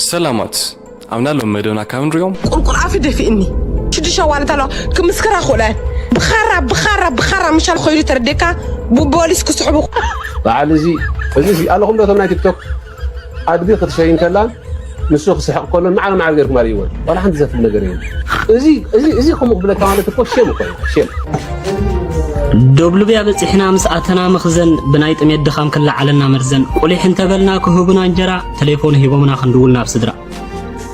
ሰላማት ኣብና ሎም መደብና ካብ ንሪኦም ቁልቁል ኣፊ ደፊእኒ ሽዱሽተ ዋለት ኣለዋ ክምስክራ ክእለን ብኻራ ብኻራ ብኻራ ምሻል ኮይሉ ተረዴካ ብፖሊስ ክስሕቡ በዓል እዚ እዚ ኣለኹም ዶ እቶም ናይ ቲክቶክ ኣድጊ ክትሸይን ከላ ንሱ ክስሕቕ ከሎ ማዕረ ማዕረ ገርኩም ኣርእይዎ ዋላ ሓንቲ ዘፍል ነገር እዩ እዚ እዚ እዚ ከምኡ ክብለካ ማለት እኮ ሸም እኮ እዩ ሸም ዶብልብያ በፂሕና ምስ ኣተና መኽዘን ብናይ ጥሜት ድኻም ክለዓለና መርዘን ቁሊሕ እንተበልና ክህቡና እንጀራ ተሌፎን ሂቦምና ክንድውል ናብ ስድራ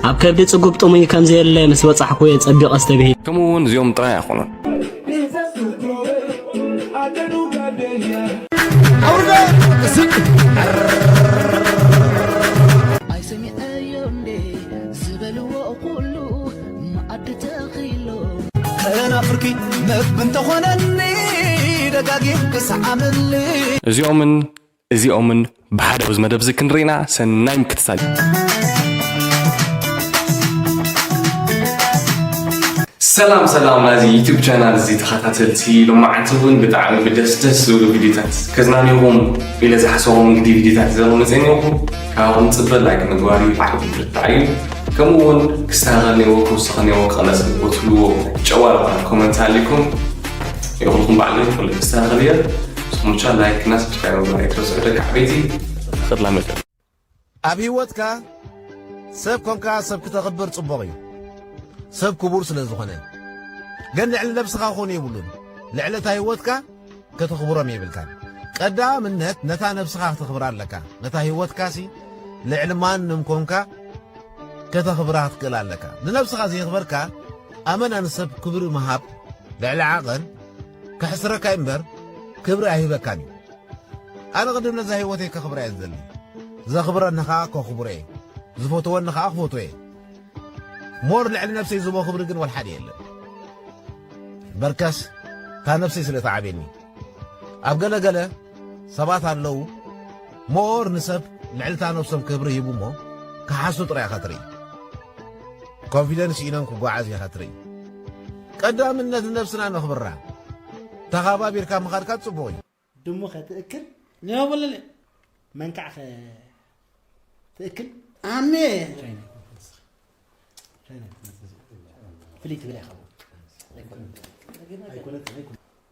ኣብ ከብዲ ጽጉብ ጥሙይ ከም ዘየለ ምስ በጻሕኩ እየ ጸቢቐ ዝተብሂል ከምኡ እውን እዚኦም ጥራይ ኣይኮኑን። እዚኦምን እዚኦምን ብሓደ ኣብዚ መደብ እዚ ክንርኢና ሰናይ ምክትታል ሰላም ሰላም ናዚ ዩቱብ ቻናል እዚ ተኸታተልቲ ሎማዓንቲ እውን ብጣዕሚ ብደስ ደስ ዝብሉ ቪድዮታት ከዝናንኹም ኢለ ዝሓሰቦም እንግዲ ቪድዮታት ዘሮ መፅኒኹም ካብኹም ፅበ ላይክ ምግባር እዩ ዓብ ብርታዕ እዩ ከምኡ እውን ክስተኻኸል ነዎ ክውስኽ ነዎ ክቕለፅ ዝቦትልዎ ጨዋልባት ኮመንት ኣሊኩም ይኹልኩም ባዕለ ይፍለ ክስተኻኸል እየ ስሙቻ ላይክ እና ሰብስክራይብ ምግባር ኣይትረስዑ ደቂ ዓበይቲ ተኽላ መድያ። ኣብ ሂወትካ ሰብ ኮንካ ሰብ ክተኽብር ጽቡቕ እዩ ሰብ ክቡር ስለ ዝኾነ ግን ልዕሊ ነብስኻ ኮኑ የብሉን ልዕሊ እታ ሂወትካ ከተኽብሮም የብልካን ቀዳምነት ነታ ነብስኻ ክተኽብራ ኣለካ ነታ ሂወትካሲ ልዕሊ ማንም ኮንካ ከተኽብራ ክትክእል ኣለካ ንነብስኻ ዘየኽበርካ ኣመና ንሰብ ክብሪ ምሃብ ልዕሊ ዓቐን ከሕስረካ እዩ እምበር ክብሪ ኣይህበካን እዩ ኣነ ቅድም ነዛ ህይወተይ ከኽብራ እየ ዝደሊ ዘኽብረኒ ኸዓ ከኽብሮ እየ ዝፈትወኒ ኸዓ ክፈትዎ እየ ሞር ልዕሊ ነብሰይ ዝቦ ክብሪ ግን ወልሓደ የለን በርከስ ካብ ነብሰይ ስለ ተዓብየኒ ኣብ ገለ ገለ ሰባት ኣለዉ ሞር ንሰብ ልዕልታ ነብሶም ክብሪ ሂቡ እሞ ክሓሱ ጥራይ ኢኻ ትርኢ ኮንፊደንስ ሲኢኖም ክጓዓዝ ኢኻ ትርኢ ቀዳምነት ንነብስና ነኽብራ ተኻባቢርካ ምኻድካ ጽቡቕ እዩ ድሙ ከ ትእክል ኔው ብልል መንካዕ ከ ትእክል ኣሜ ፍልይ ትብል ኣይኸውን ኣይኮነት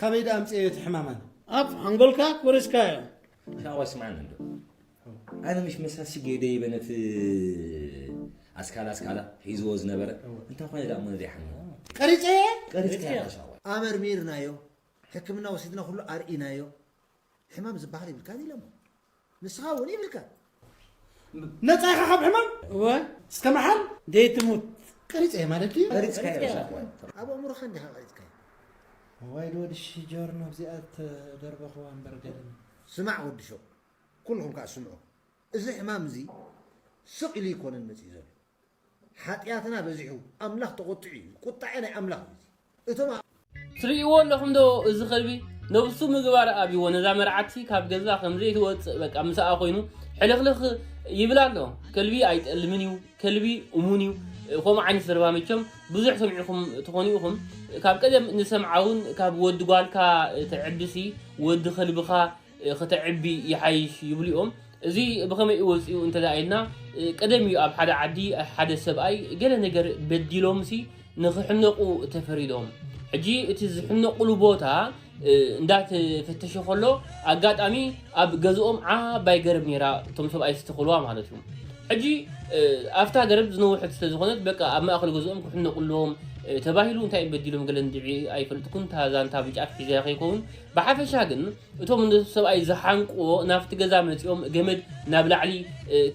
ካበይ ደኣ ኣምጺኤዮ እቲ ሕማም ኣነ። ኣብ ሓንጎልካ ኮሪስካዮ። ሻዋ ስማዕኒ እንዶ ኣነ ምሽ መሳ ስጌ ደይበ ነቲ ኣስካላ ኣስካላ ሒዝዎ ዝነበረ እንታይ ኮነ ደኣ እሞ ዘይሓመ ቀሪጸየ ቀሪጽካያ ሻዋ ኣመርሚርናዮ ሕክምና ወሲድና ኩሉ ኣርኢናዮ ሕማም ዝበሃል ይብልካን ኢሎሞ ንስኻ እውን ይብልካ ነፃ ኢኻ ካብ ሕማም እወ እስከ መሓል ዘይትሙት ቀሪፀ እየ ማለት ድዩ ቀሪፅካ እየ ኣብ ኣእምሮኻ እንዲኻ ቀሪፅካ ዋይ ዶ ወዲ ሽጆርኖ እዚኣ ተደርበኽዋ እምበር ገድም ስማዕ ወዲ ሸው ኩልኹም ከዓ ስምዑ እዚ ሕማም እዚ ስቕ ኢሉ ይኮነን መፅኡ ዘሎ ሓጥያትና በዚሑ ኣምላኽ ተቖጢዑ እዩ ቁጣዔ ናይ ኣምላኽ እዩ እዚ እቶም ኣብ ትርእይዎ ኣለኹም ዶ እዚ ከልቢ ነብሱ ምግባር ኣብዎ ነዛ መርዓቲ ካብ ገዛ ከም ዘይትወጽእ በቃ ምስኣ ኮይኑ ሕልኽልኽ ይብላ ኣሎ ከልቢ ኣይጠልምን እዩ ከልቢ እሙን እዩ ከምኡ ዓይነት ዘረባ መቸም ብዙሕ ሰሚዕኹም ትኾኑ ኢኹም ካብ ቀደም ንሰምዓውን ካብ ወዲ ጓልካ ተዕብሲ ወዲ ከልብኻ ከተዕቢ ይሓይሽ ይብሉ እዮም። እዚ ብኸመይ እዩ ወጺኡ እንተድኣ ኢልና፣ ቀደም እዩ ኣብ ሓደ ዓዲ ሓደ ሰብኣይ ገለ ነገር በዲሎምሲ ንኽሕነቑ ተፈሪዶም። ሕጂ እቲ ዝሕነቑሉ ቦታ እንዳተፈተሸ ከሎ ኣጋጣሚ ኣብ ገዝኦም ዓባይ ገረብ ነይራ፣ እቶም ሰብኣይ ዝተኸልዋ ማለት እዩ። ሕጂ ኣብታ ገረብ ዝነውሐት ስለ ዝኾነት በቃ ኣብ ማእከል ገዝኦም ክሕነቑ ኣለዎም ተባሂሉ እንታይ በዲሎም ገለ እንድዒ ኣይፈልጥኩን እታ ዛንታ ብጫፍ ሒዘያ ከይከውን ብሓፈሻ ግን እቶም ነቲ ሰብኣይ ዝሓንቅዎ ናብቲ ገዛ መፂኦም ገመድ ናብ ላዕሊ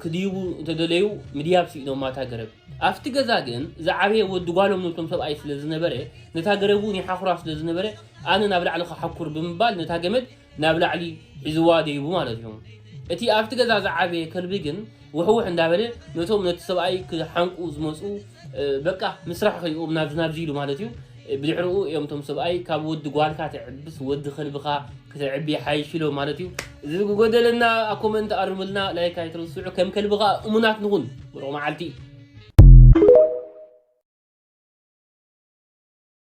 ክድይቡ እንተደለዩ ምድያብ ስኢኖማ እታ ገረብ ኣብቲ ገዛ ግን ዝዓበየ ወዲ ጓሎም ነቶም ሰብኣይ ስለ ዝነበረ ነታ ገረብ እውን ይሓኩራ ስለ ዝነበረ ኣነ ናብ ላዕሊ ክሓኩር ብምባል ነታ ገመድ ናብ ላዕሊ ሒዝዋ ደይቡ ማለት እዩ እቲ ኣብቲ ገዛ ዝዓበየ ከልቢ ግን ውሕውሕ እንዳበለ ነቶም ነቲ ሰብኣይ ክሓንቁ ዝመጹ በቃ ምስራሕ ከይኦም ናብዚ ናብዚ ኢሉ ማለት እዩ ብድሕርኡ እዮም እቶም ሰብኣይ ካብ ወዲ ጓልካ ትዕብስ ወዲ ከልብኻ ክተዕቢ ይሓይሽ ኢሎም ማለት እዩ እዚ ዝጎደለና ኣብ ኮመንት ኣርምልና ላይክ ኣይትርስዑ ከም ከልብኻ እሙናት ንኹን ብሩቕ መዓልቲ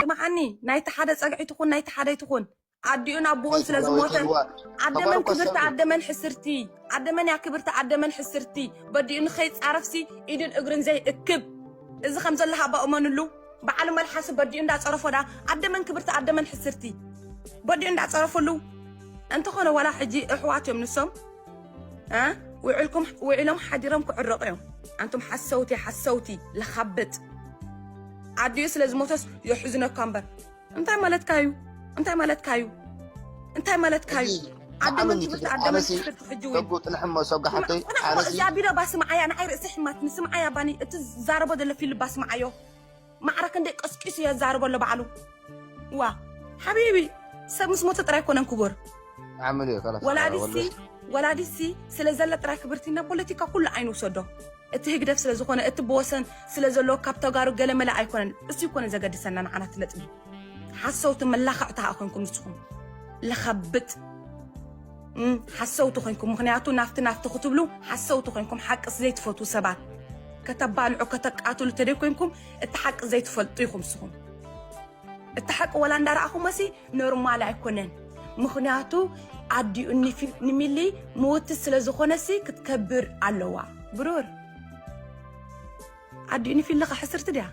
ስምዓኒ ናይቲ ሓደ ጸግዒ ትኹን ናይቲ ሓደይ ትኹን ኣዲኡን ኣቦኡን ስለ ዝሞተን ዓደመን ክብርቲ ኣደመን ሕስርቲ ዓደመን እያ ክብርቲ ኣደመን ሕስርቲ በዲኡ ንኸይጻረፍሲ ኢድን እግርን ዘይእክብ እዚ ከም ዘለካ ኣባ እመንሉ በዓል መልሓሲ በዲኡ እንዳ ጸረፎ ደኣ ኣደ መን ክብርቲ ኣደ መን ሕስርቲ በዲኡ እንዳ ጸረፍሉ እንተኾነ ዋላ ሕጂ እሕዋት እዮም ንሶም እ ውዕልኩም ውዒሎም ሓዲሮም ክዕረቑ እዮም ኣንቱም ሓሰውቲ ሓሰውቲ ለኻብጥ ኣዲኡ ስለ ዝሞተስ የሕዝነካ እምበር እንታይ ማለትካ እዩ እንታይ ማለትካ እዩ እንታይ ማለትካ እዩ ዓደመን ትምህርቲ ዓደመን ትምህርቲ ሕጂ እውን ሰጉ ጥንሕሞ ሰጉ ሓፍተይ ኣነሲ እዚ ኣቢሎ ባ ስምዓያ ንዓይ ርእሲ ሕማትኒ ስምዓያ ባኒ እቲ ዝዛረቦ ዘሎ ፊልም ባ ስምዓዮ ማዕረ ክንደይ ቀስቂሱ እየ ዝዛረቦ ኣሎ ባዕሉ ዋ ሓቢቢ ሰብ ምስ ሞተ ጥራይ ኮነን ክቡር ዓምል እዩ ከላስ ወላዲሲ ወላዲሲ ስለ ዘለ ጥራይ ክብርቲ ናብ ፖለቲካ ኩሉ ኣይንውሰዶ እቲ ህግደፍ ስለ ዝኾነ እቲ ብወሰን ስለ ዘሎ ካብ ተጋሩ ገለ መለ ኣይኮነን እሱ ይኮነ ዘገድሰና ንዓና እቲ ነጥቢ ሓሰውቲ መላኸዕቲ ኸኣ ኮንኩም ንስኹም ለኸብጥ ሓሰውቲ ኮንኩም ምክንያቱ ናፍቲ ናፍቲ ክትብሉ ሓሰውቲ ኮንኩም ሓቅስ ዘይትፈትዉ ሰባት ከተባልዑ ከተቃትሉ ተደይ ኮንኩም እቲ ሓቂ ዘይትፈልጡ ኢኹም ንስኹም እቲ ሓቂ ወላ እንዳረኣኹሞሲ ኖርማል ኣይኮነን ምኽንያቱ ኣዲኡ ንሚሊ ምውቲ ስለ ዝኾነሲ ክትከብር ኣለዋ ብሩር ኣዲኡ ንፊልኻ ሕስርቲ ድያ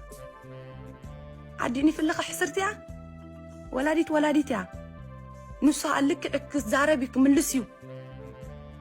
ኣዲኡ ንፊልኻ ሕስርቲ እያ ወላዲት ወላዲት እያ ንሱ ልክዕ ክዛረብ እዩ ክምልስ እዩ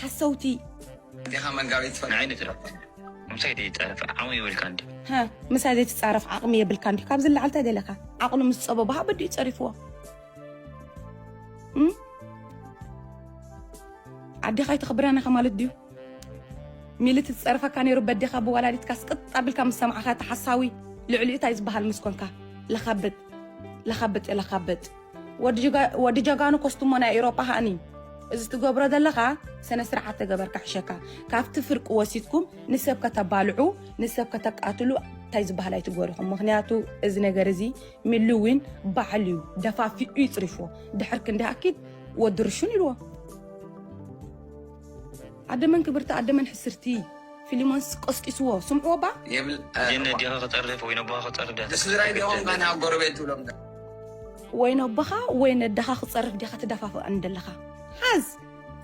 ሓሰውቲ ዲኻ መጋቢት ትፈልጥ ዓይኒ ትረፍ ምሳይ ዘይትጻረፍ ዓቕሚ የብልካን ድዩ ሃ ምሳይ ዘይትጻረፍ ዓቕሚ የብልካን ድዩ ካብዚ ንላዕሊ እንታይ ደለካ ዓቕሉ ምስ ጸበቦ ሃበዱ እዩ ጸሪፍዎ እም? ኣዴኻ ኣይተኽብረን ኢኻ ማለት ድዩ ሚልት ዝጸርፈካ ነይሩ በዴኻ ብወላዲትካ ስቅጥ ኣቢልካ ምስ ሰማዕኻ ተሓሳዊ ልዕሊኡ እንታይ ዝበሃል ምስ ኮንካ ለኻብጥ ለኻብጥ ለኻብጥ ወዲ ጀጋኑ ኮስቱሞ ናይ ኤሮጳ ሃኒ እዚ ትገብሮ ዘለኻ ስነ ስርዓት ተገበር ካሕሸካ ካብቲ ፍርቂ ወሲድኩም ንሰብ ከተባልዑ ንሰብ ከተቃትሉ እንታይ ዝበሃል ኣይትጎሪኹም ምክንያቱ እዚ ነገር እዚ ሚሉዊን ባዕሉ እዩ ደፋፊኡ ይፅሪፎ ድሕር ክንዲ ኣኪድ ወዲ ርሹን ኢልዎ ኣደመን ክብርቲ ኣደመን ሕስርቲ ፊሊሞንስ ቆስቂስዎ ስምዕዎ ባ ጀነት ዲኻ ክጠርፍ ወይ ነቦኻ ክጠርፍ ዲኻ ንስድራይ ዲኹም ከና ጎረቤት ትብሎም ወይ ነቦኻ ወይ ነደኻ ክፀርፍ ዲኻ ትደፋፍኣኒ ደለኻ ሓዝ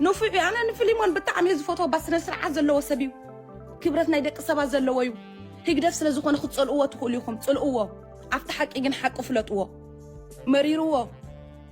ንፉዕ እዩ ኣነ ንፍሊሞን ብጣዕሚ እየ ዝፈትዎ ባ ስነ ስርዓት ዘለዎ ሰብ እዩ ክብረት ናይ ደቂ ሰባት ዘለዎ እዩ ህግደፍ ስለ ዝኾነ ክትፀልእዎ ትኽእሉ ኢኹም ፅልእዎ ኣብቲ ሓቂ ግን ሓቂ ፍለጥዎ መሪርዎ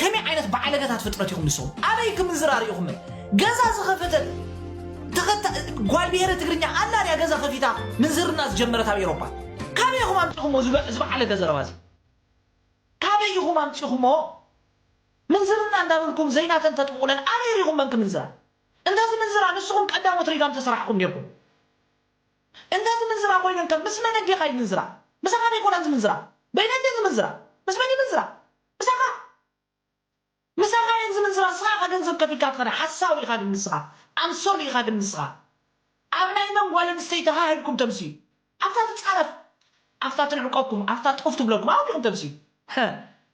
ከመይ ዓይነት በዓለገታት ፍጥረት ኢኹም ንስኹም ኣበይ ክምንዝራ ሪኢኹም ገዛ ዝኸፈተት ተኸታ- ጓል ብሄረ ትግርኛ ኣላ ድያ ገዛ ከፊታ ምንዝርና ዝጀመረት ኣብ ኤሮፓ ካበይ ኢኹም ኣምፂኹሞ ዝበ- ዝበዓለገ ዘረባ እዚ ካበይ ኢኹም ኣምፂኹሞ ምንዝርና እንዳበልኩም ዘይናተን ተጥምቑለን ኣበይ ሪኹም መን ክምንዝራ እንተዝምንዝራ ንስኹም ቀዳሞት ሪጋም ተሰራሕኹም ኔርኩም እንተ ዝምንዝራ ኮይነን ከ ምስ መን ኣዲኻ ይምንዝራ ምሳኻ ዶ ኣይኮናን ዝምንዝራ በይነን ድየን ዝምንዝራ ምስ መን ይምንዝራ ምሳኻ ምሳኻ እየን ዝምንዝራ ንስኻ ኢኻ ገንዘብ ከፊልካ ትኸዳ ሓሳዊ ኢኻ ግን ንስኻ ኣንሶሊ ኢኻ ግን ንስኻ ኣብ ናይ መን ጓል ኣንስተይቲ ሃህ ኢልኩም ተምስዩ ኣብታ ትጻረፍ ኣብታ ትንዕቀኩም ኣብታ ጡፍ ትብለኩም ኣብኡ ዲኹም ተምስዩ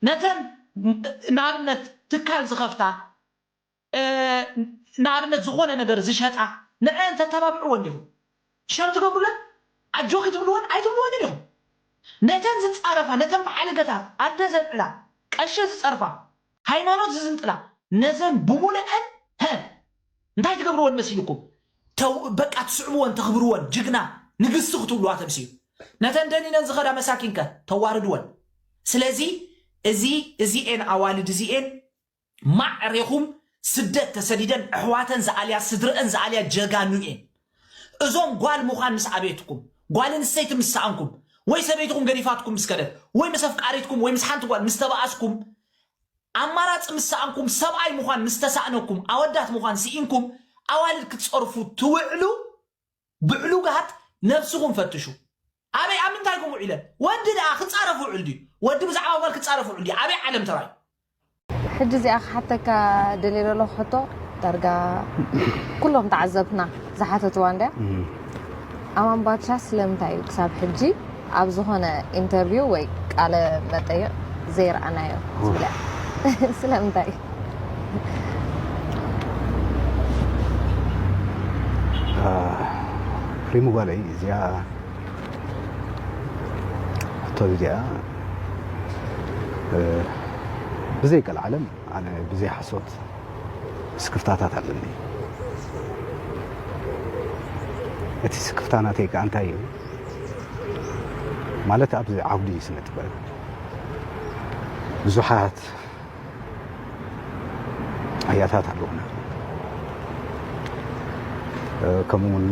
ነተን ንኣብነት ትካል ዝኸፍታ። ንኣብነት ዝኾነ ነገር ዝሸጣ ንዐኣን ተተባብዕወን ዲኹም ሸር ትገብሩለን ኣጆኺ ትብልወን ኣይትብልወንን ኢኹም ነተን ዝጻረፋ ነተን ብሓለገታት ኣደ ዘልዕላ ቀሺ ዝጸርፋ ሃይማኖት ዝዝንጥላ ነዘን ብሙልዐን ሀ እንታይ ትገብርወን መሲልኩም ተው በቃ ትስዕብወን ተኽብርወን ጅግና ንግስቲ ክትብልዋ ተምስዩ ነተን ደኒነን ዝኸዳ መሳኪን ከ ተዋርድወን ስለዚ እዚ እዚኤን ኣዋልድ እዚኤን ማዕ ሬኹም ስደት ተሰዲደን ኣሕዋተን ዝኣልያ ስድረእን ዝኣልያ ጀጋኑ እየን እዞም ጓል ምዃን ምስ ኣቤትኩም ጓል ኣንስተይቲ ምስ ሰኣንኩም ወይ ሰበይትኹም ገዲፋትኩም ምስ ከደት ወይ ምስ ኣፍቃሪትኩም ወይ ምስ ሓንቲ ጓል ምስ ተባኣስኩም ኣማራጺ ምስ ሰኣንኩም ሰብኣይ ምዃን ምስ ተሳእነኩም ኣወዳት ምዃን ስኢንኩም ኣዋልድ ክትጸርፉ ትውዕሉ ብዕሉጋት ነብስኹም ፈትሹ ኣበይ ኣብ ምንታይ ኢኩም ውዒለን ወዲ ደኣ ክጻረፍ ውዕል ድዩ ወዲ ብዛዕባ ጓል ክጻረፍ ውዕል ድዩ ኣበይ ዓለም ተራዩ ሕጂ እዚኣ ክሓተካ ደልየ ዘለኹ ሕቶ ዳርጋ ኩሎም ተዓዘብትና ዝሓተትዋ እንድያ ኣማን ባድሻ ስለምንታይ እዩ ክሳብ ሕጂ ኣብ ዝኾነ ኢንተርቪው ወይ ቃለ መጠይቕ ዘይረኣናዮ ትብልያ ስለምንታይ ሪሙ ጓለይ እዚኣ ሕቶ እዚኣ ብዘይ ቀልዓለም ኣነ ብዘይ ሓሶት ስክፍታታት ኣለኒ እቲ ስክፍታ ናተይ ከዓ እንታይ እዩ ማለት ኣብዚ ዓውዲ ስነ ጥበብ ብዙሓት ኣያታት ኣለዉና ከምኡ ውን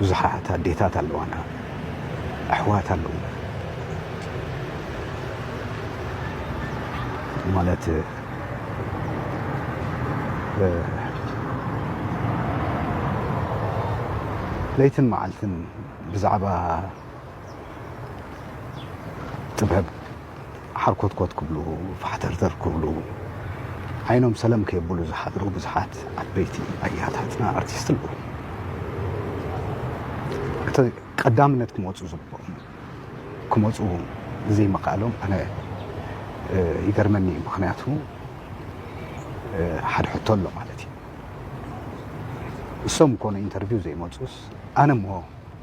ብዙሓት ኣዴታት ኣለዋና ኣሕዋት ኣለዉ ማለት ለይትን መዓልትን ብዛዕባ ጥበብ ሓርኮትኮት ክብሉ ፋሕተርተር ክብሉ ዓይኖም ሰለም ከየብሉ ዝሓድሩ ብዙሓት ዓበይቲ ኣያታትና ኣርቲስት ኣለዉ። እቲ ቀዳምነት ክመፁ ዝግብኦም ክመፁ ዘይምኽኣሎም ኣነ ይገርመኒ እዩ። ምክንያቱ ሓደ ሕቶ ኣሎ ማለት እዩ። እሶም ኮነ ኢንተርቪው ዘይመፁስ ኣነ እሞ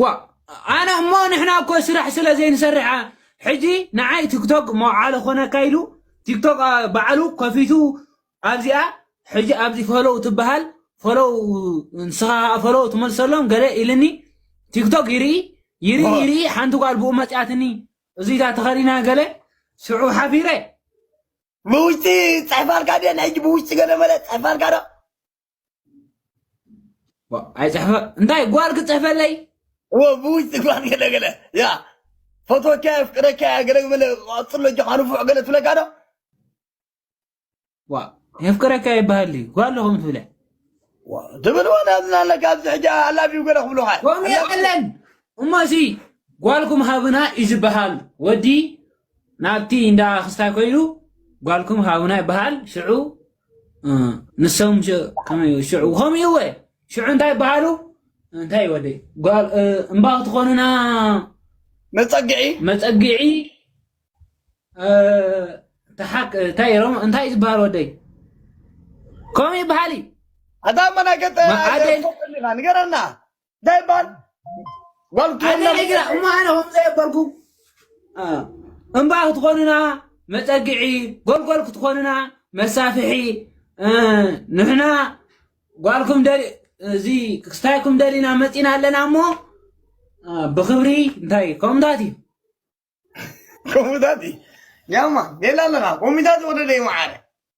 ዋ ኣነ እሞ ንሕና እኮ ስራሕ ስለ ዘይንሰርሓ ሕጂ ንዓይ ቲክቶክ መውዓለ ኮነካ ኢሉ ቲክቶክ ባዕሉ ከፊቱ ኣብዚኣ ሕጂ ኣብዚ ፈለው ትበሃል ፈለው ንስኻ ፈለው ትመልሰሎም ገለ ኢልኒ ቲክቶክ ይርኢ ይርኢ ይርኢ ሓንቲ ጓል ብኡ መፅያትኒ እዚታ ተኸዲና ገለ ሽዑ ሓፊረ ብውሽጢ ፅሕፋልካ ድየ ናይ ሕጂ ብውሽጢ ገለ መለ ፅሕፋልካ ዶ ኣይፅሕፈ እንታይ ጓል ክፅሕፈለይ ብውሽጢ ጓል ገለገለ ያ ፈትወካ የፍቅረካ ገለገለ ቀፅሎ ጆካ ንፉዕ ገለ ትብለካ ዶ ዋ የፍቅረካ ይበሃል እዩ ጓል ኹም ትብለ ትብል ወላ ዝናለ ካብዚ ሕጂ ኣላብዩ ገለ ክብሉካ ከምኡ የለን እሞ እዚ ጓልኩም ሃብና እዩ ዝበሃል ወዲ ናብቲ እንዳ ክስታይ ኮይኑ ጓልኩም ሃብና ይበሃል ሽዑ ንሶም ከመይ ሽዑ ከምኡ እወ ሽዑ እንታይ ይበሃሉ እንታይ ወደ ጓል እምባኽ ትኾኑና መፀግዒ መፀግዒ ተሓክ እንታይ ሮም እንታይ ዝበሃል ወደይ ከምኡ ይበሃል እዩ ኣታ መናገጠ ንገረና እንታይ ይበሃል ጓልቱ የለን ግራ እሞ ኣነ ከም ዘየበልኩ እምባ ክትኾኑና መፀግዒ ጎልጎል ክትኾኑና መሳፍሒ ንሕና ጓልኩም እዚ ክስታይኩም ደሊና መፂና ኣለና እሞ ብክብሪ እንታይ ከምታት እዩ ከምታት እዩ ያማ ሌላ ኣለና ኮሚታት ወደደ ይመዓረ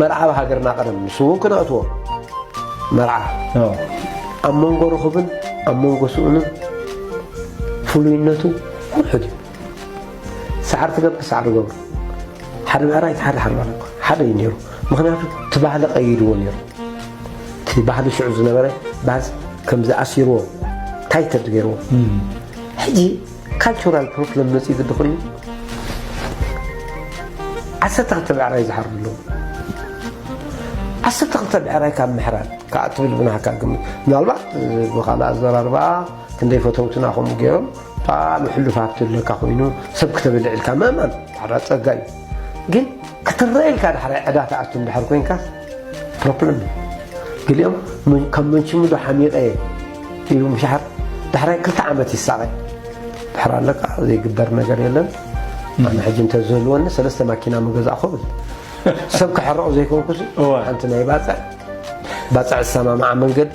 መርዓ ኣብ ሃገርና ቀደም ንሱ እውን ክነእትዎ መርዓ ኣብ መንጎ ርኽብን ኣብ መንጎ ስኡንን ፍሉይነቱ ውሑድ እዩ ሰዓር ትገብር ሰዓር ገብሩ ሓደ ምዕራይ ሓደ ሓደ ሓደ እዩ ነይሩ ምክንያቱ እቲ ባህሊ ቀይድዎ ነይሩ እቲ ባህሊ ሽዑ ዝነበረ ባህል ከምዚ ኣሲርዎ ታይትድ ገይርዎ ሕጂ ካልቸራል ፕሮፕለም መፅዩ ግዲ ኮይኑ ዓሰርተ ክልተ ብዕራይ ዝሓርዱ ኣለዉ ዓሰርተ ክልተ ብዕራይ ካብ ምሕራድ ከዓ ትብል ብናሃካ ግምት ምናልባት ብካልእ ኣዘራርባ ክንደይ ፈተውትና ከምኡ ገይሮም ብጣዕሚ ሕሉፍ ሃብቲ ኣለካ ኮይኑ ሰብ ክተበልዕ ኢልካ ምእማን ሓራ ፀጋ እዩ ግን ክትረአ ኢልካ ዳሕራይ ዕዳ ትኣቱ እንድሕር ኮንካስ ፕሮፕለም ገሊኦም ከም መንሽሙዶ ሓሚቐ ኢሉ ምሻሓር ዳሕራይ ክልተ ዓመት ይሳቐ ድሕር ኣለቃ ዘይግበር ነገር የለን ኣነ ሕጂ እንተዘልወኒ ሰለስተ ማኪና ምገዛእ ክብል ሰብ ክሕረቑ ዘይኮንኩ ሓንቲ ናይ ባፅዕ ባፅዕ ዝሰማምዓ መንገዲ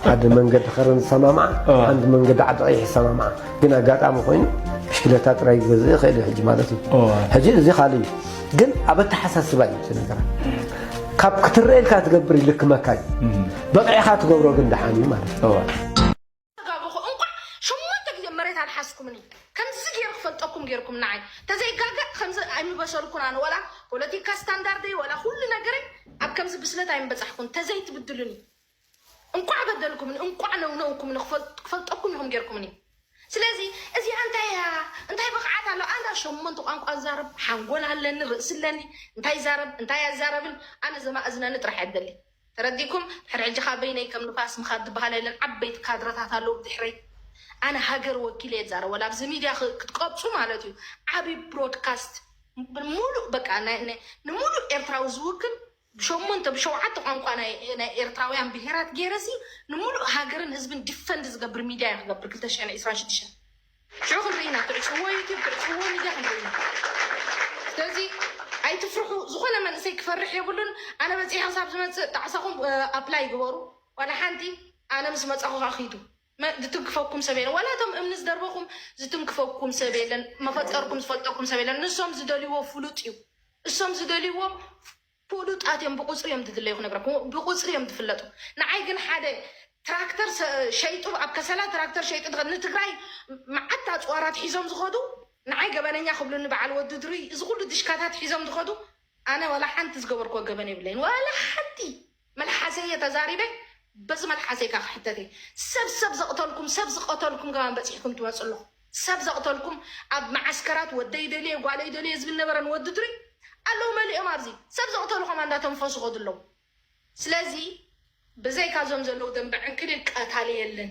ሓደ መንገዲ ከረን ዝሰማምዓ ሓንቲ መንገዲ ዓዲ ቀይሕ ዝሰማምዓ ግን ኣጋጣሚ ኮይኑ ብሽክለታ ጥራይ ክገዝእ ይኽእል ሕጂ ማለት እዩ ሕጂ እዚ ካልእ እዩ ግን ኣብ ኣተሓሳስባ እዩ እቲ ነገራ ካብ ክትረኤልካ ትገብር ይልክመካ እዩ በቂዕኻ ትገብሮ ግን ደሓን እዩ ማለት እዩ ጌርኩም ንዓይ ተዘይጋገ ከምዚ ኣይምበሰልኩን ኣነ ወላ ፖለቲካ ስታንዳርደይ ወላ ኩሉ ነገረይ ኣብ ከምዚ ብስለት ኣይምበፃሕኩን ተዘይትብድሉኒ እንቋዕ በደልኩምን እንቋዕ ነውነውኩምን ክፈልጠኩም ኢኹም ጌርኩምኒ ስለዚ እዚኣ እንታይ እያ እንታይ ብቕዓት ኣሎ ኣነ ሸሞንተ ቋንቋ ዛረብ ሓንጎል ኣለኒ ርእሲ ኣለኒ እንታይ ዛረብ እንታይ ኣዛረብን ኣነ ዘማእዝነኒ ጥራሕ እያ ደሊ ተረዲኩም ሕድ ሕጂ ካብ በይነይ ከም ንፋስ ምኻድ ዝበሃል የለን ዓበይቲ ካድረታት ኣለዉ ብድሕረይ ኣነ ሃገር ወኪለ እየ ዛረብ ወላ ኣብዚ ሚድያ ክትቀብፁ ማለት እዩ ዓብዪ ብሮድካስት ሙሉእ በቃ ንሙሉእ ኤርትራዊ ዝውክል ብሸሞንተ ብሸውዓተ ቋንቋ ናይ ናይ ኤርትራውያን ብሄራት ጌረሲ ንሙሉእ ሃገርን ህዝብን ዲፈንድ ዝገብር ሚድያ እየ ክገብር ክልተ ሽሕን ዒስራን ሽድሽተን ሽዑ ክንርኢ ኢና ክዕጽዎ ዩቲብ ክዕጽዎ ሚድያ ክንርኢ ኢና ስለዚ ኣይትፍርሑ ዝኾነ መንእሰይ ክፈርሕ የብሉን ኣነ በጺሐ ክሳብ ዝመጽእ ጣዕሳኹም ኣፕላይ ግበሩ ዋላ ሓንቲ ኣነ ምስ መጻኹ ከኣ ኺዱ ዝትንክፈኩም ሰብ የለን ዋላ እቶም እምኒ ዝደርበኹም ዝትንክፈኩም ሰብ የለን መፈጠርኩም ዝፈልጠኩም ሰብ የለን ንሶም ዝደልይዎ ፍሉጥ እዩ እሶም ዝደልይዎ ፍሉጣት እዮም ብቁፅሪ እዮም ዝድለዩ ክነግረኩም ብቁፅሪ እዮም ዝፍለጡ ንዓይ ግን ሓደ ትራክተር ሸይጡ ኣብ ከሰላ ትራክተር ሸይጡ ዝኸ ንትግራይ መዓት ኣፅዋራት ሒዞም ዝኸዱ ንዓይ ገበነኛ ክብሉኒ በዓል ወዲ ድሩይ እዚ ኩሉ ድሽካታት ሒዞም ዝኸዱ ኣነ ዋላ ሓንቲ ዝገበርክዎ ገበን የብለይን ዋላ ሓንቲ መልሓሰይ እየ ተዛሪበ በዚ መልሓሰይ ከኣ ክሕተት እየ ሰብ ሰብ ዘቅተልኩም ሰብ ዝቀተልኩም ከማን በጺሕኩም ትመጹ ኣለኹም ሰብ ዘቅተልኩም ኣብ መዓስከራት ወደይ ደልየ ጓለይ ደልየ ዝብል ነበረ ንወዲ ድሪ ኣለዉ መሊኦም ኣብዚ ሰብ ዘቅተሉ ከማን እንዳተንፈሱ ይኸዱ ኣለዉ ስለዚ ብዘይካ ዞም ዘለዉ ደንበ ዕንክሊል ቀታሊ የለን።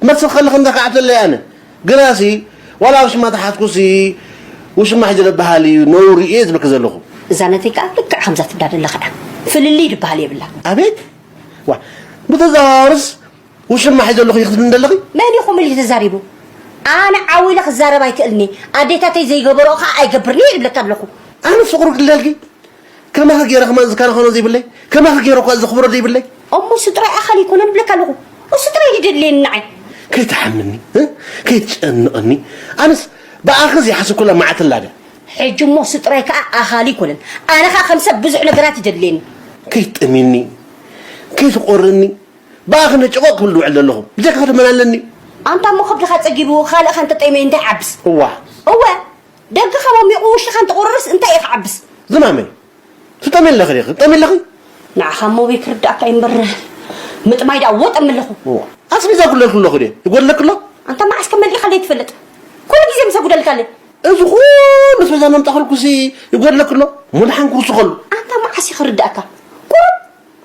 ክመጽእ ከለኺ እንዳ ከዓብተለይ ኣነ ግናሲ ዋላ ውሽማ ተሓትኩሲ ውሽማ ሕጂ ደበሃል ኢዩ ነውሪ ኢየ ዝብለኪ ዘለኹ። እዛ ነተይ ከኣ ልክዕ ከምዛ ትብላ ዘለኻ እያ ፍልልይ ድበሃል የብላን። ኣቤት ዋእ ብተዘዋዋርስ ውሽማ ሒዘ ኣለኹ ኢኺ ትብልኒ ዘለኺ። መን ኢኹም ኢሉ ተዛሪቡ ኣነ ዓው ኢለ ክዛረብ ኣይክእልን ኢየ ኣዴታተይ ዘይገበርኦ ከኣ ኣይገብርን ኢየ ዝብለኪ ኣለኹ። ኣነስ ፍቅሩ ክልደልኪ ከማኺ ገይረ ከማን ዝከናኸኖ ዘይብለይ ከማኺ ገይረ እኳ ዘኽብሮ ዘይብለይ እሞ እሱ ጥራይ ኣኻል ኣይኮነን እብለካ ኣለኹ እሱ ጥራይ ድደድልየኒ ንዓይ ከይትሓምኒ ከይትጨንቐኒ ኣነስ ብኣኺ ዘይሓስብኩላ መዓልቲ ኣላደ ሕጂ እሞ እሱ ጥራይ ከዓ ኣኻል ኣይኮነን ኣነ ከዓ ከም ሰብ ብዙሕ ነገራት ይደድልየኒ ከይትጥሚኒ ከይትቆርኒ ብኣኺ ነጨቆቕ ክብል ዝውዕል ዘለኹ ብጀካኺ ድመን ኣለኒ ኣንታ እሞ ከብድኻ ፀጊቡ ካልእኻ እንተጠይመ እንታይ ዓብስ እዋ እወ ደገኻ ሞሚቑ ውሽጥኻ እንተቑርርስ እንታይ እዩ ክዓብስ? ዝማመይ ትጠምይ ኣለኺ ዲኺ? ትጠምይ ኣለኺ? ንዓኻ ሞሚይ ክርድኣካ እዩ እምበር ምጥማይ ደኣ ወጥ እምለኹ። እዋ ኣስቤዛ ኣጉድለልኪ ኣለኹ ድየ? ይጎድለኪ ኣሎ? ኣንታ መዓስ ከ መልኢኻለይ ትፈልጥ? ኩሉ ግዜ ምስ ኣጉደልካ ኣለይ። እዚ ኩሉ ኣስቤዛ እናምጻእክልኩሲ ይጎድለኪ ኣሎ? ሙድሓን ክውስኸሉ። ኣንታ መዓስ እዩ ክርድኣካ? ቁሩብ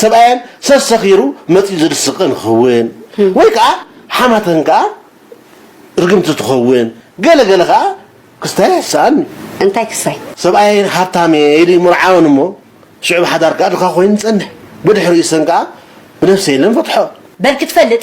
ሰብኣየን ሰብ ሰኺሩ መጺኡ ዝድስቕን ክኽውን ወይ ከኣ ሓማተን ከኣ ርግምቲ ትኸውን ገለ ገለ ከኣ ክስታይ ኣይስኣን እዩ። እንታይ ክስታይ? ሰብኣየን ሃብታም እየ ኢሉ ይምርዓወን እሞ ሽዑ ብሓዳር ከኣ ድኻ ኮይኑ ይጸንሕ። ብድሕሪኡ እሰን ከኣ ብነብሰ የለን ፈትሖ። በል ክትፈልጥ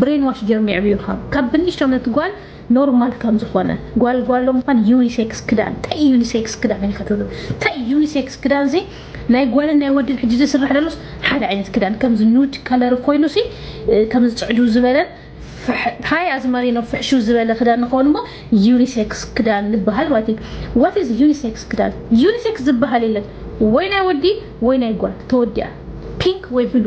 ብሬን ዋሽ ጌሮም የዕብዩኻ ካብ ብንእሽቶ ነቲ ጓል ኖርማል ከም ዝኾነ ጓል ጓሎ ምዃን ዩኒሴክስ ክዳን ታይ እዩ ዩኒሴክስ ክዳን ኢልካ ትብል ታይ እዩ ዩኒሴክስ ክዳን ሲ ናይ ጓልን ናይ ወድን ሕጂ ዝስራሕ ዘሎስ ሓደ ዓይነት ክዳን ከምዚ ኑድ ከለር ኮይኑ ሲ ከምዚ ጽዕዱ ዝበለን ታይ ኣዝማሪኖ ፍሕሹ ዝበለ ክዳን ንኸውን እሞ ዩኒሴክስ ክዳን ንበሃል ማለት እዩ ዋት ኢዝ ዩኒሴክስ ክዳን ዩኒሴክስ ዝበሃል የለን ወይ ናይ ወዲ ወይ ናይ ጓል ተወዲኣ ፒንክ ወይ ብሉ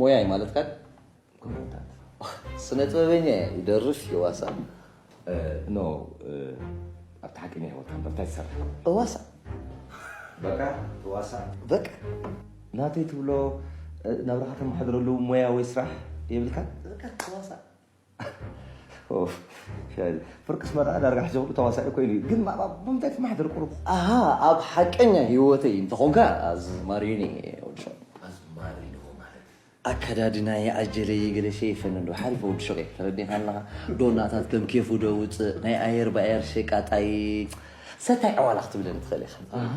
ሞያ እዩ ማለት ካል ስነ ጥበበኛ እየ ይደርፍ ይዋሳ ኖ ኣብቲ ሓቂ ናይ ህይወት ኣንበር እንታይ ትሰርሕ እዋሳ በቃ እዋሳ በቃ ናተይ ትብሎ ናብራኻ ተመሓድረሉ ሞያ ወይ ስራሕ የብልካ በቃ እዋሳ ፍርቅስ መርዓ ዳርጋ ሕጂ ክብሉ ተዋሳኢ ኮይኑ እዩ ግን ማዕባ ብምንታይ ትመሓደር ቁሩብ ኣሃ ኣብ ሓቀኛ ህይወተይ እንተኾንካ ኣዝማሪኒ ወዲ ሸቕ ኣዝማሪኖ ማለት ኣከዳድናየ ኣጀለየ ገለ ሸይፈን እንዶ ሓሪፈ ወዲ ሸቕ እየ ተረዲኻ ኣለኻ ዶናታት ከም ኬፉ ዶ ውፅእ ናይ ኣየር ብኣየር ሸቃጣይ ሰታይ ዕዋላ ክትብለኒ ትኽእል ኢኻ ኣሃ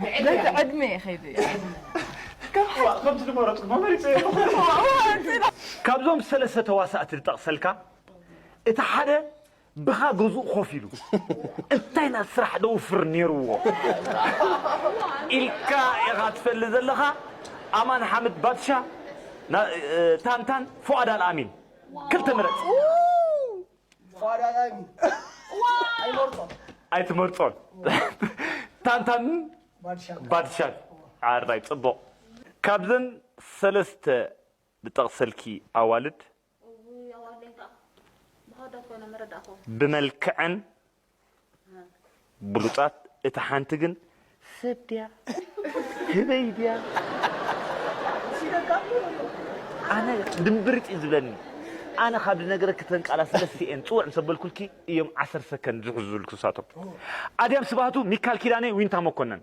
በቲ ዕድመ ይኸይዱ እያ ከምቲ ዝመረፅኩ መመሪፀ ኣለኹ ካብዞም ሰለስተ ተዋሳእቲ ዝጠቕሰልካ እቲ ሓደ ብኻ ገዝኡ ኮፍ ኢሉ እንታይ ኢና ስራሕ ደውፍር ነይርዎ ኢልካ ኢኻ ትፈልጥ ዘለኻ ኣማን ሓምድ ባትሻ ታንታን ፉኣድ ኣልኣሚን ክልተ ምረፅ ኣይትመርፆን ታንታን ባድሻን ዓራይ ፅቡቅ ካብዘን ሰለስተ ድጠቅሰልኪ ኣዋልድ ብመልክዐን ብሉጻት እታ ሓንቲ ግን ሰብ ድያ ህበይ ድያ ኣነ ድምብርጽ እዩ ዝብለኒ ኣነ ካብ ድነገረኪ እተን ቃላት ስለስቲኤን ጽውዕ ምስ ኣበልኩልኪ እዮም ዓሰርተ ሰከንድ ዝሕዙልኪ ንሳቶም ኣድያም ስብሃቱ ሚካል ኪዳነ ዊንታ መኮነን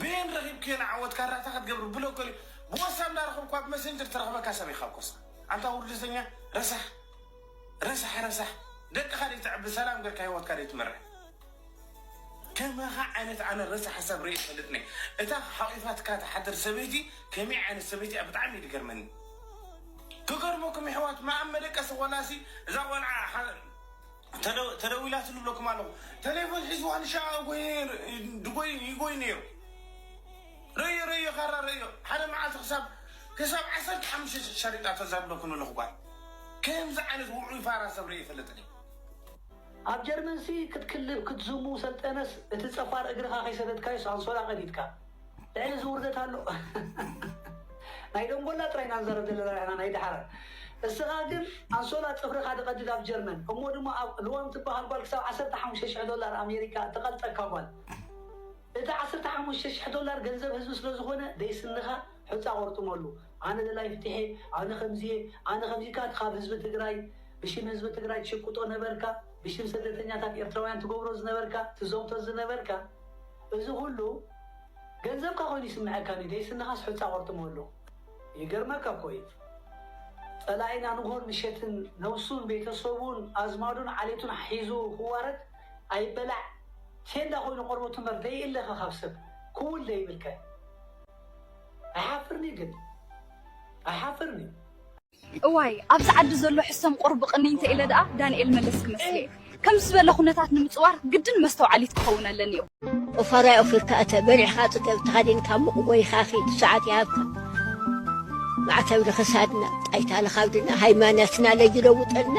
በየን ረኪብክዮ ንዓወት ካራ እታ ክትገብሪ ብሎክ ገሊኡ ብወሳ እንዳረከብኩ ኣብ መሰንጀር ትረክበካ ሰብ ኢካ ኮስ ኣንታ ውርደተኛ ረሳሕ ረሳሕ ረሳሕ ደቅካ ደይተዕቢ ሰላም ገርካ ሂወትካ ደይትመርሕ ከማካ ዓይነት ኣነ ረሳሕ ሰብ ሪኢ ይፈልጥኒ እታ ሓቂፋትካ ትሓድር ሰበይቲ ከመይ ዓይነት ሰበይቲ እያ ብጣዕሚ እዩ ዝገርመኒ ክገርመኩም የሕዋት መኣብ መደቀሲ ቆላሲ እዛ ቆልዓ ተደዊላትሉ እብለኩም ኣለኹ ተሌፎን ሒዝዋ ንሻዕ ድጎይ ይጎይ ነይሩ ረዮ ረዮ ካራ ረዮ ሓደ መዓልቲ ክሳብ ክሳብ ዓሰርተ ሓሙሽተ ሸሪጣ ተዛብለኩ ንለኹ ጓል ከምዚ ዓይነት ውዑይ ፋራ ሰብ ርእየ ይፈልጥን ኣብ ጀርመንሲ ክትክልብ ክትዝሙ ሰልጠነስ እቲ ጸፋር እግርኻ ከይሰተትካዮስ ኣንሶላ ቀዲድካ። ልዕሊ እዚ ውርደት ኣሎ ናይ ደንጎላ ጥራይ ኢና ንዛረብ ዘለና ንሕና ናይ ደሓር እስኻ ግን ኣንሶላ ጽፍርኻ ድቐድድ ኣብ ጀርመን እሞ ድማ ኣብ ልዋም ትበሃል ጓል ክሳብ ዓሰርተ ሓሙሽተ ሽሕ ዶላር ኣሜሪካ እተቐልጠካ ጓል እቲ ዓሰርተ ሓሙሽተ ሽሕ ዶላር ገንዘብ ህዝቢ ስለ ዝኾነ ደይስንኻ ሑጻ ቆርጥመሉ ኣነ ደላይ ፍትሒ ኣነ ከምዚየ ኣነ ከምዚካ ካብ ህዝቢ ትግራይ ብሽም ህዝቢ ትግራይ ትሽቅጦ ነበርካ ብሽም ስደተኛታት ኤርትራውያን ትገብሮ ዝነበርካ ትዘውቶ ዝነበርካ እዚ ኩሉ ገንዘብካ ኮይኑ ይስመዐካ ድዩ ደይ ስንኻስ ሑጻ ቆርጥሞ ኣሎ ይገርመካ እኮ እዩ ጸላኢና ንግሆን ምሸትን ነብሱን ቤተሰቡን ኣዝማዱን ዓሌቱን ሒዙ ክዋረድ ኣይበላዕ ቴንዳ ኮይኑ ቆርበቱ እምበር ደይ እልኸ ካብ ሰብ ክውል ደይብልከ ኣይሓፍርንዩ ግን ኣይሓፍርንዩ። እዋይ ኣብዚ ዓዲ ዘሎ ሕሰም ቁርብ ቅንይ እንተኢለ ደኣ ዳንኤል መለስ ክመስል'የ። ከምዚ ዝበለ ኩነታት ንምጽዋር ግድን መስተውዓሊት ክኸውን ኣለኒዮ። ኦፋራይ ኦፊርካ እተ፣ በሊዕካ ጽገብ፣ ተኸዲንካ ሙቕ ጎይካ ኺድ፣ ሰዓት ይሃብካ ማዕተብ ንኽሳድና፣ ጣይታ ንኻብድና፣ ሃይማነትና ለይለውጠልና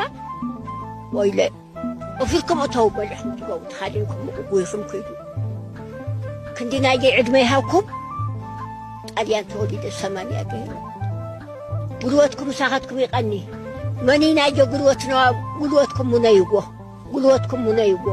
ወይለ። ወፊርኩም እተው በልዕኹም ትገቡ ተኻዲንኩም ጉይኹም ክዱ ክንዲ ናይዚ ዕድመ ይሃብኩም ጣልያን ተወሊደ ሰማንያ ገይሩ ጉልበትኩም ሳኻትኩም ይቐኒ መኒ ናይዞ ጉልበት ነዋ ጉልበትኩም ሙነይዎ ጉልበትኩም ሙነይዎ